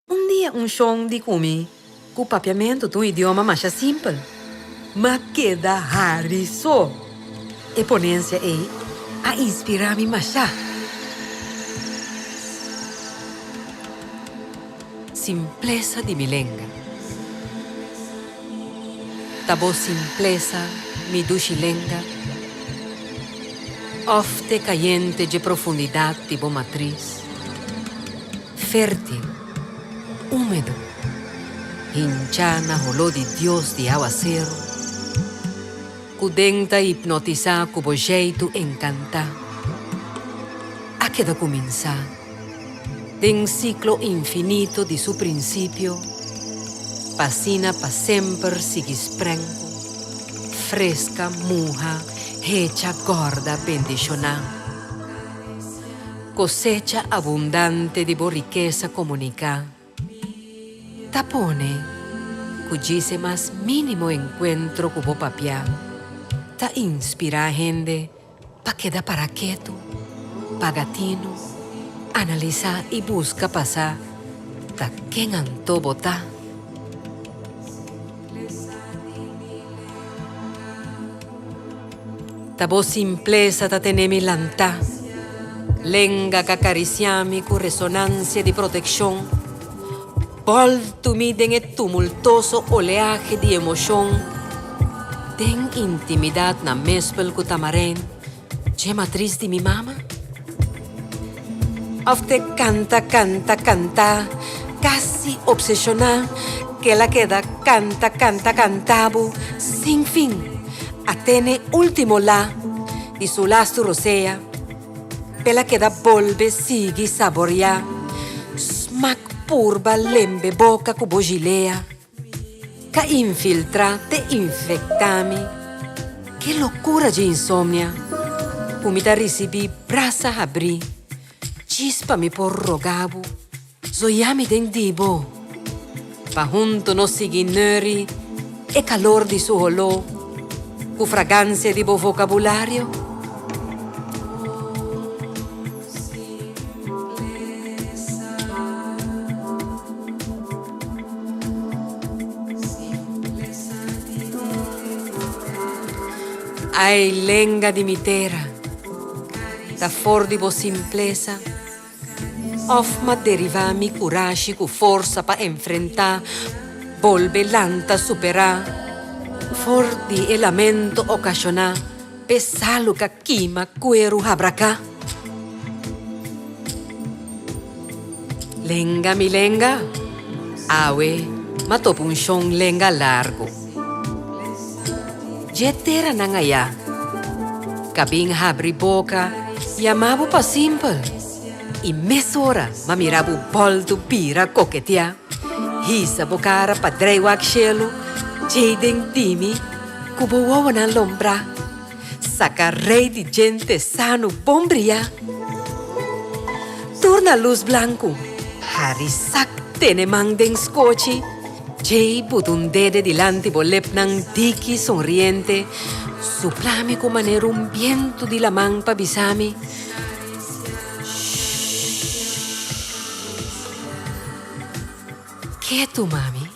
Un dia un shon di kumi ku papiamentu ta un idioma masha simpel, ma keda hari so. E ponensia ei a inspirá mi masha. Simplesa di mi lenga. Ta bo simplesa mi dushi lenga? Òf t'e kayente dje profundidat di bo matris? Fértil, úmedo, hinchá na holó di dios di áwaseru, ku den ta hipnotisá ku bo jeitu enkantá, a keda kuminsá den siklo infinito di su prinsipio pa asina pa semper sigui sprenku, freska, muha, hecha, gòrda, bendishoná. Cosecha abundante di bo rikesa komuniká ta pone ku djise mas mínimo enkuentro ku bo papia ta inspirá hende pa keda pará ketu, paga tinu, analisá i buska pa sa ta ken anto bo ta. Ta bo simplesa ta tene mi lantá. Lenga ka karisiá mi ku resonansia di protekshon. Boltu mi den e tumultoso oleahe di emoshon. Den intimidat na mespel ku Tamarijn. Djema tris di mi mama. Of te canta canta canta casi obsesiona kel a keda canta canta cantabo sin fin a tene ultimo la di su lastu rosea pel a keda bolbe sigui saboria smaak purba lembe boca cu bo gilea. Ka infiltra te infecta mi Ke locura dje insomnia Cu mi ta ricibi brasa habri Djis pa mi por roga bo Zoya mi den di bo Pa hunto nos sigui neuri E calor di su holo Cu fragancia di bo vocabulario. Ai lenga di mi tera, ta for di bo simplesa òf m'a derivá mi kurashi ku forsa pa enfrentá, bolbe lanta, superá for di e lamento okashoná? Pe salu ka kima kueru habraka. Lenga mi lenga, awe m'a topa un shon lenga largu. Dje teranan ayá ka bin habri boka yamá bo pa simpel i mes ora m'a mira bo bòldu bira koketeá. Hisa bo kara pa dreywak shelu djei den di mi. Ku bo wowonan lombrá. Saka Rei di djente sanu bon briá. Tur na lus blanku. Hari sak tene man den skochi. Djei butundede dilanti bo lepnan diki sonriente. Supla mi ku manera un bientu di laman pa bisa mi, Shhh. Ketu, mami.